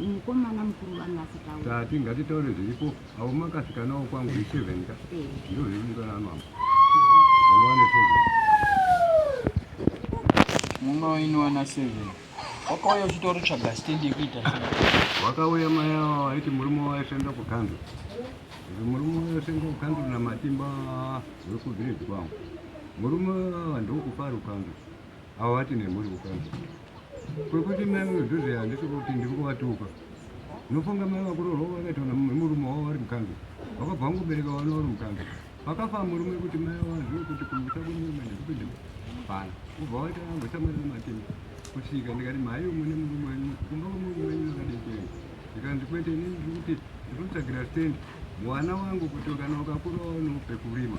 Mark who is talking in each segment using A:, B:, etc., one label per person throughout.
A: mukomana mukuru vanga asitaura tati ngatitaure
B: zviripo avo makasikanawo kwangu iseven ka eh. ndo zviri mukana anwamo vanga vane seven
C: muno inowana seven wakauya uchitori tsvaga stendi yekuita wakauya
B: mai avo aiti murume waisenda kukando murume waisenda kukando namatimba wekuvhireji kwangu Murume ava ndokufa rukango ava vati nemhuri kukango kwekuti mai vedhuze handisi kuti ndiri kuvatuka nofunga mai vakuroorwa vakaitwa nemurume wavo vari mukango vakabva vangobereka vana vari mukango vakafa murume kuti mai vazvo kuti kumusa kwemurume ndikupinde bana kubva vaita vambosamarira matini kusvika ndikati mhai mune murume wenyu kumba kwemurume wenyu makadekei ndikanzi kwete ini ndiri kuti ndiri kutsvagira stendi mwana wangu kuti kana ukakurawo nopekurima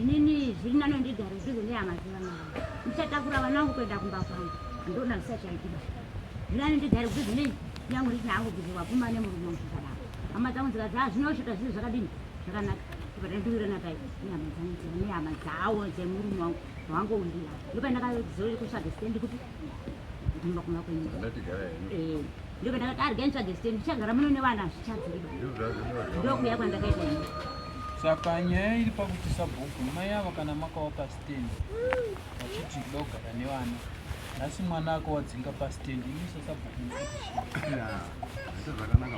A: inini zviri nane ndigare ndizo nehama dzevana vangu ndichatakura vana vangu kuenda kumba kwangu ndona zvisachaitika zviri nane ndigare kudzidzo nei nyangu ndisina hangu kuti wapfuma nemurume wangu zvakadaro hama dzangu dzikati ha ah, zvinosvika zviri zvakadini zvakanaka patandiwirana pai nehama dzangu nehama dzawo dzemurume wangu wangoundira ndopandakazorere kutsvaga sitendi kuti ndinoda kumba kwenyu eh, ndiko ndakati arga nitsvage site ndichagara muno nevana zvichadziriba ndokuya kwandakaita ini saka
C: nyaya iri pakuti sabhuku mai avo kana makawa pasitendi vachiti kuda kugara nevana nhasi mwana ako wadzinga pasitendi ini sasabhuku
B: zvakanaka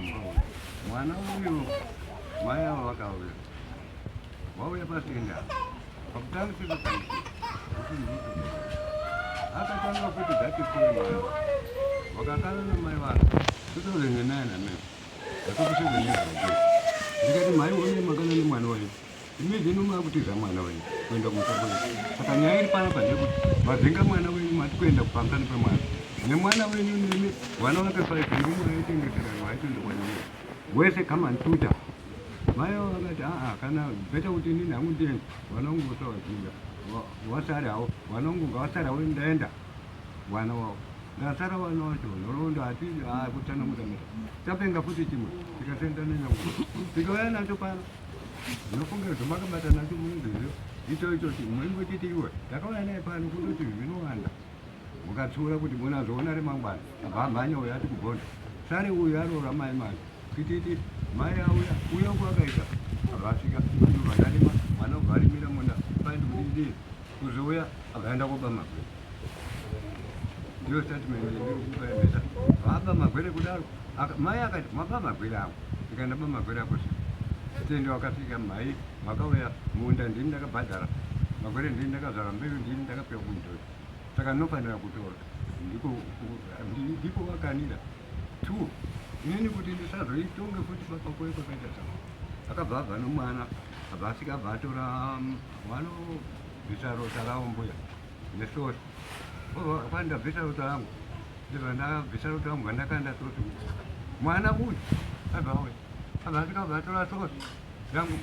B: mwana uyo mai avo vakauya wauya patenda pakutanga sezvakaita akatanga kuti dzatisiyemwana wakakana nemai vako totozenga naye nameo akakusheza nezvake ndikati mhai one makana nemwana wayo imezvino makutiza mwana wenyu kuenda kumusako saka nyaya iri panapa ndekuti mazenga mwana wenyu mati kuenda kupamusani pemwana nemwana wenyu nemi vana vakafaizirumwe aitengeserano aitoenda kwanyaya wese come and tutor Mai avo vakati aa kana beta kuti inini hangu ndiende vana vangu vosawadzinga vasare havo vana vangu ngavasare havo ndaenda vana wavo ndasara vana vacho nhoroondo hati aa kutsanangura meta tapenga futi chimwe tikasenda nenyangu tikauya nacho pano ndinofunga kuti makabata nacho munezvezvo icho ichochi muingochiti iwe takauya naye pano kundoti zvinowanda Ukatsiura kuti munazoona remangwana vamhanya uyo ati kugonda sare uyo aroora mai mai tititi mai auya uya uko akaita vakasvika vanarima mwana uvarimira munda faindi kudidii kuzouya akaenda koba magwere ndiyo statement yekupaemeta vaba magwere kudaro mai akati maba magwere ako ikaenda ba magwere ako si tende wakasvika mhai makauya munda ndini ndakabhadhara magwere ndini ndakazvara mbeu ndini ndakapiwa kundo saka ndinofanira kutora ndiko ndiko vakanira two inini kuti ndisazoitonge futi baba kwe kwakaita zvangu akabva abva nomwana abva asvika abva atora um, wano bvisa rota ravo mbuya nesosi kwandabvisa rota rangu ndivandabvisa rota rangu vandakanda sosi mwana uyu abva uyu abva asvika abva atora sosi rangu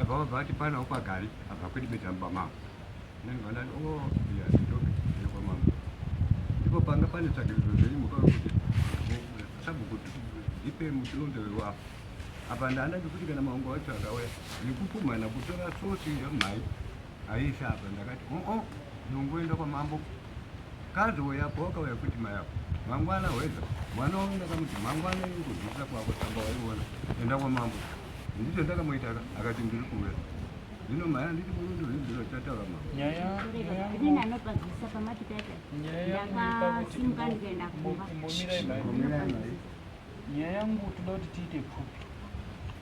B: abva abva ati panawo pagari abva kwidibidza mubamavo ndipo panga pane tsvagiridzo dzenyu mukaona kuti sabhuku ndipe muchilondo wewapo apa ndaana ndikuti kana maungo wacho akauya ndikupumhana kutora sosi yamhai aisha apa ndakati oo oh, oh, ndongoenda kwamambo kazowo yapo wakauya kuti mayapo mangwana hweza mwana wangu ndakamuti mangwana ingodzisa kwako samba waiona enda kwamambo ndicho ndakamuita akati ndiri kuuya Zvino maya nditi murundo rwezviro chataura mama. Nyaya nyaya. Ndini
A: anopazisa pamati tata. Nyaya ndakasimuka ndikaenda kumba. Mbomirai mai. Mbomirai
C: mai. Nyaya yangu toda kuti tiite pfupi.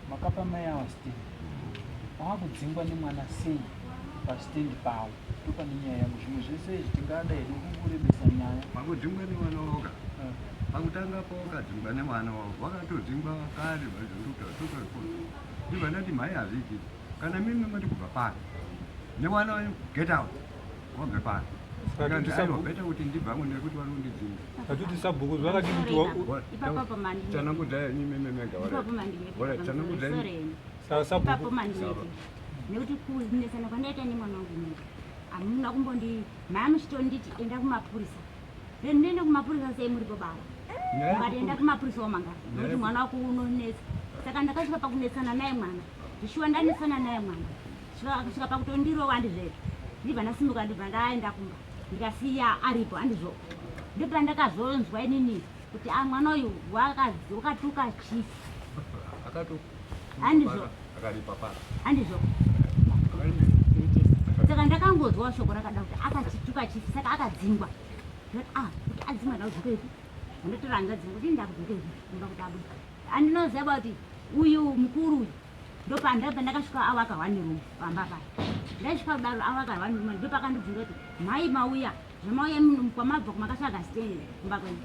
C: Makapa mai awa stand. Vakudzingwa nemwana sei pastand pawo. Ndopane nyaya yangu zvimwe zvese izvi tingada hedu kukurebesa nyaya. Vakudzingwa nemwana
B: woga. Eh. Pakutanga pawakadzingwa nemwana wavo wakatodzingwa kare vazondokuta soka rikuru. Ndivana kuti mhai hazviitiki. kana mimi moti kubva pano newana wenyu get out wabve pano bete kuti ndibvamo nekuti vari kundidzinga hatiti sabhuku
D: zvakati kuti
A: tanangudzai imimi
B: mega
A: tanangudzai
B: sabhuku
A: nekuti kunesana kwandaita nemwana wangu mega hamuna kumbondi maya muchitonditi enda kumapurisa then ndiende kumapurisa sei muri bobava ukati enda kumapurisa wamanga nokuti mwana wako unonetsa saka ndakasvika pakunetsana naye mwana Zvishuwa ndanesana naye mwana. Kusvika pakutondirova andizve. Ndibva ndasimuka ndibva ndaenda kumba. Ndikasiya aripo andizvo. Ndipo ndakazonzwa inini kuti a ah, mwana uyu wakatuka chief.
B: Akatuka. Andizvo.
A: Akaripa pa. Andizvo. Saka ndakangonzwa shoko rakada kuti akachituka chief saka akadzingwa. Ah, kuti adzingwa ndaudzwa kuti ndotorangadzi kuti ndakudzwa kuti ndakudzwa kuti abuda. Andinoziva kuti uyu mukuru uyu ndopanda pandakasvika awaka one room pamba paya ndaisvika kudaro awaka one room ndopakandibvunza kuti mhai mauya zvamauya kwamabva kumakatsvaga stand kumba kwenu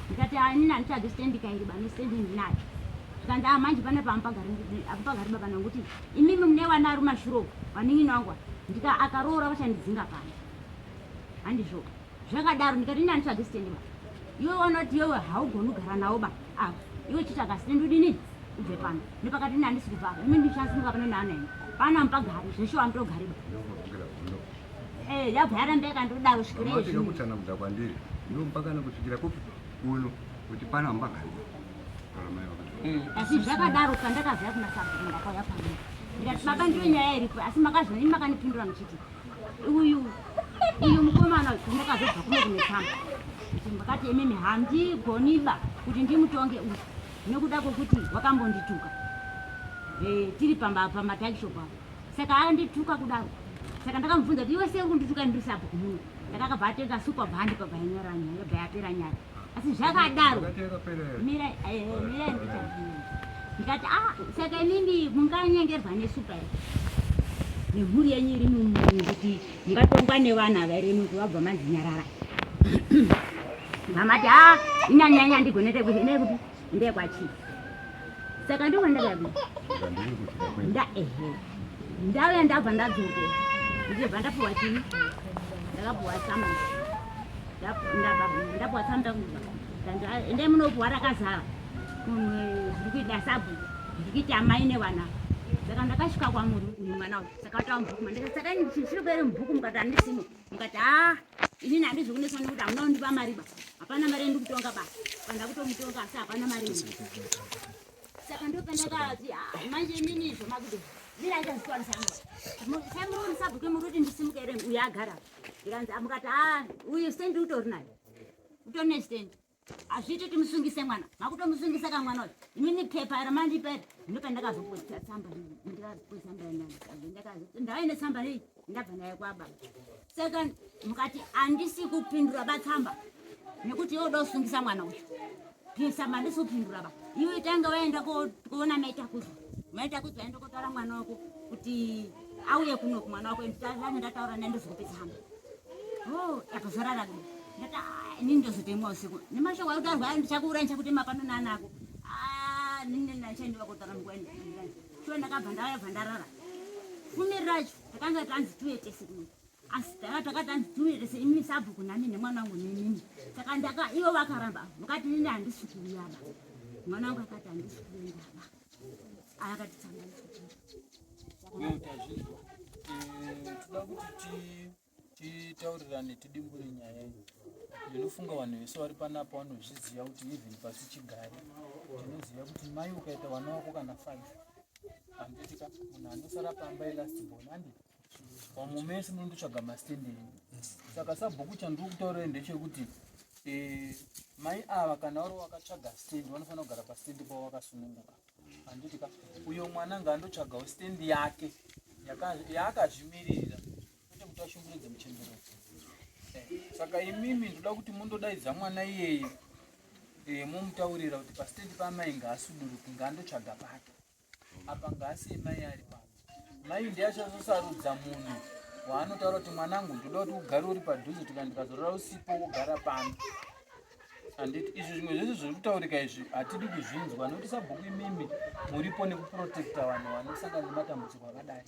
A: ndikati anini anditsvagi stand kairi bane stand ndinayo zvikanzi a ah, manje pane paamupagari baba nangu kuti imimi mune vana ari mashuro vanin'ini wangu ndika akaroora vachandidzinga pano handizvoo zvakadaro ndikati ndani tsvage sitendi ba iwe wanoti iwewe haugoni kugara nawo ba ava iwe chitsvaga sitendi udini ubve pano nepakati ndani ndisiri papa imi ndichasimuka pano naana ini pano amupagari zveshuwa amutogari ba eh, yabva yarambe yakandodaro svikireinokutsanakuda kwandiri
B: ndompakana kusvikira kupi kuno kuti pano amupagari mm.
A: asi zvakadaro pandakazaya kuna sabhuru ndakauya pano ndikati baba ndiyo nyaya iripo asi makazvani makanipindura muchiti Uyu uyu mukomana ndakazobva kuno kunetsamba kuti makati emimi handigoniba kuti ndimutonge uyu nekuda kwekuti wakambondituka eh, tiri pamatakishopu apo saka andituka kudaro saka ndakamubvunza kuti iwe sei kundituka ndiri sapo kumuno ndakakabva atenga supa bhandipa bhainyaranyaya bhayapera nyaya asi zvakadaro mira eh, mira ndikati ah saka inini munganyengerwa nesupa here nemhuri yenyu iri mumuri kuti mungatongwa nevana vairi muti vabva manzi nyarara mamati a ah, inyanyanya ndigonete kuti ine kuti Ndekwa chi. Saka ndiko ndakaya ku. Nda ehe. Ndau ya ndabva ndadzoke. Ndike bva ndapuwa chi. Ndakapuwa sama. Ndabva ndapuwa sama ndakubva. Ndanga ende munopuwa rakazara. Kumwe ndikuita sabu. Ndikuita mai ne vana. Saka ndakasvika kwa muru uyu mwana uyu. Saka watawa mbuku. Ndikasaka chiri kwere mbuku mukati andisimo. mukati haa inini handizvi kuneswa nekuti hamuna kundipa mari ba hapana mari yendi kutonga ba panda kutomutonga asi hapana mari saka ndopandakati manje inini izvo makuti ziraitazikwanisaamuruoni sabhuke muri kuti ndisimuka ere uyo agara ndikanzi amukati haa uyu stendi utori nayo utori ne stendi Hazviiti kuti musungise mwana. Makutomusungisa ka mwana uyu. Imini pepa iro mandipa iro. Ndipo pandakazoposta tsamba iyi. Ndikazoposta tsamba iyi. Ndakazo ndaive netsamba iyi. Ndabva nayo kwaba. Second mukati handisi kupindura batsamba. Nekuti yoda kusungisa mwana uyu. Pisa mandisi kupindura ba. Iwe tanga waenda koona maita kuzo. Maita kuzo waenda kotaura mwana wako kuti auye kuno kumwana wako nditazane ndataura naye ndozokupedza hama o yakazorara kuno ndati inini ndozotemwa usiku nemashoko akuti arwaya ndichakuuraya ndichakutema pano naanako nini ndachaendiwa kotara munguva sure ndakabva ndauya bva ndarara fumi racho takanga tanzi tiuye tese kuno asi tanga takati tanzi tiuye tese imini sabhuku nani nemwana wangu nenini saka ndaka ivo vakaramba vakati nini handisi kuuyaba mwana wangu akati handisi kuuyaba ayakati tanga Uye
C: tazvizwa. Eh, toda kuti titaurirane tidimbure nyaya iyi. Ndinofunga vanhu vese vari panapa vanozviziva kuti even pasi chigare tinoziva kuti mai ukaita vana wako kana five handitika munhu anosara pamba ilast born andi vamwe mese munondotsvaga mastand enyu saka sabhuku chandiri kutaurira ndechekuti eh, mai ava kana vari wakatsvaga stand vanofanira kugara pastand pavo vakasununguka handiti ka uyo mwana ngaandotsvagawo stendi yake yaakazvimiririra kwete kuti ashungurudze muchembero eh, saka imimi ndoda kuti mundodaidza mwana iyeye eh, momutaurira kuti pastendi paamai ngaasuduruki ngaandotsvaga pake apa ngaasiye mai ari pake Mai ndiye achazosarudza munhu waanotaura kuti mwanangu ndoda kuti ugare uri padhuze tika ndikazorora usipo wogara pano handiti izvi zvimwe zvese zviri kutaurika izvi hatidi kuzvinzwa nokuti sabhuku imimi muripo nekuprotecta vanhu vanosangana nematambudziko akadai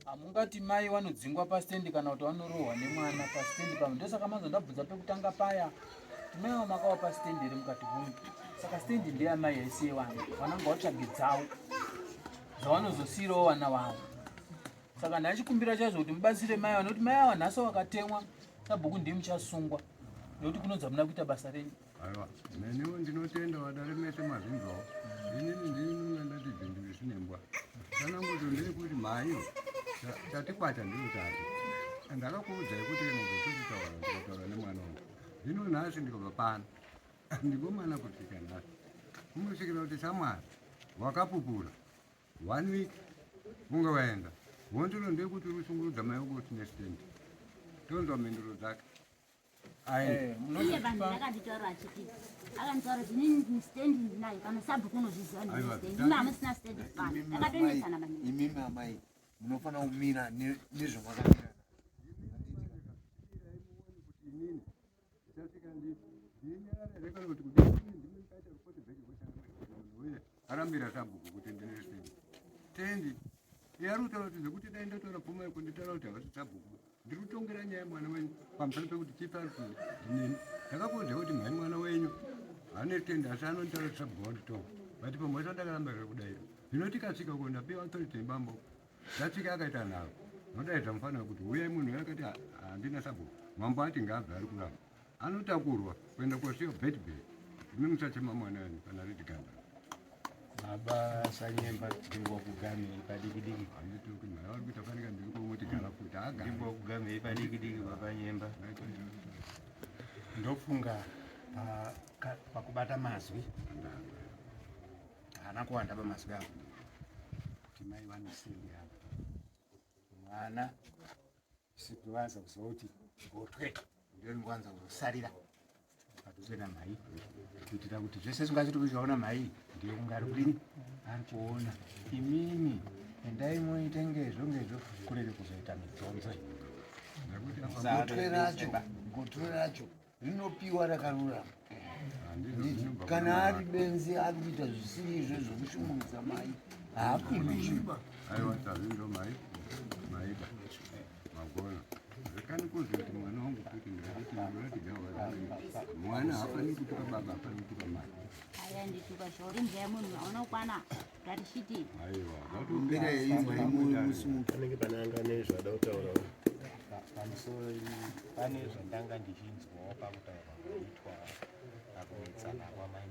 C: hamungati mai vanodzingwa pastendi kana kuti vanorohwa nemwana pastendi pamwe ndosaka manzo ndabvunza pekutanga paya timaiva makawa pastendi iri mukati hunu saka stendi ndeyamai yaisiye vanhu vananga vatsvage dzavo dzavanozosiirawo vana vavo saka ndachikumbira chaizvo kuti mubatsire mai vanoti mai ava nhasi vakatemwa sabhuku ndimi chasungwa nekuti kunonzi hamuna kuita basa renyu aiwa neniwo
B: ndinotenda vadare mese mazvinzwawo inini ndinonga ndati zvinhu zvisinembwa kana nguto ndiri kuti mhaiyo tatikwata ndiro tati ndakakuudzai kuti kana zvotochitaura ndikataura nemwana wangu zvino nhasi ndikabva pano Ndikomana kusvika nhasi unosvikira kuti shamwari wakapupura one week unge waenda wondiro ndekuti unoshungurudza mai wako kuti nestand tonzwa mhinduro dzake eh, iye
A: vanhu akanditaura achiti akanditaura kuti nini stand ndinayo
E: kana sabhuku unozviziva ndinimi hamusina stand pano akatonetsana maningi imimi amai munofanira kumira nezvamakamira
B: arambira sabhuku kuti ndine sini tendi yari kutaura kuti zvekuti dai ndataura pfuma yako nditaura kuti havasi sabhuku ndiri kutongera nyaya mwana wenyu pamusana pekuti chipi ari kuti ndinini ndakakuudza kuti mhai mwana wenyu hane tendi asi anonditaura kuti sabhuku wanditonga but pamwe acho ndakaramba zvekudaira zvinotikasvika uko ndapiwa authority yebambo Tatsika akaita nharo ndodaidza mufana wekuti huyai munhu uyo akati handina sabhuku mambo ati ngaabve ari kuramba anotakurwa kuenda kosiyo bedbed imi musachema mwana wenyu kana riti ganda baba
F: sanyemba ndingwa kugamei padikidiki handituki mhara vari
B: kuita fanika ndiri kumoti gara futi agandingwa kugamei
F: padikidiki baba nyemba ndofunga pakubata mazwi haana kuwanda pamazwi avo kuti mai vanosendera mwana sikuvanza kuziva kuti gotwe ndoringowanza kuzosarira padhuze namai kuitira kuti zvese zvingazviti kuzvaona mai ndiyo kungari kudini ari kuona imimi endai moita ngezvo ngezvo kurere kuzoita midzonzo gotwe racho
E: gotwe racho rinopiwa rakarurama kana ari benzi ari kuita zvisiri izvo zvokushungurudza mai haapindishiba aiwa
B: tavi ndo mai maida magona rekani kuzi kuti mwana wangu kuti ndaiti ndinotigawa mwana haafaniri kutuka baba haafaniri kutuka mai aya ndituka zvauri mzaya munhu
A: aunokwana
E: panenge pane anga ane
F: zvada kutaura pamusoro pane zvandanga ndichinzwawo pakutaura kuitwa pakunetsana kwamai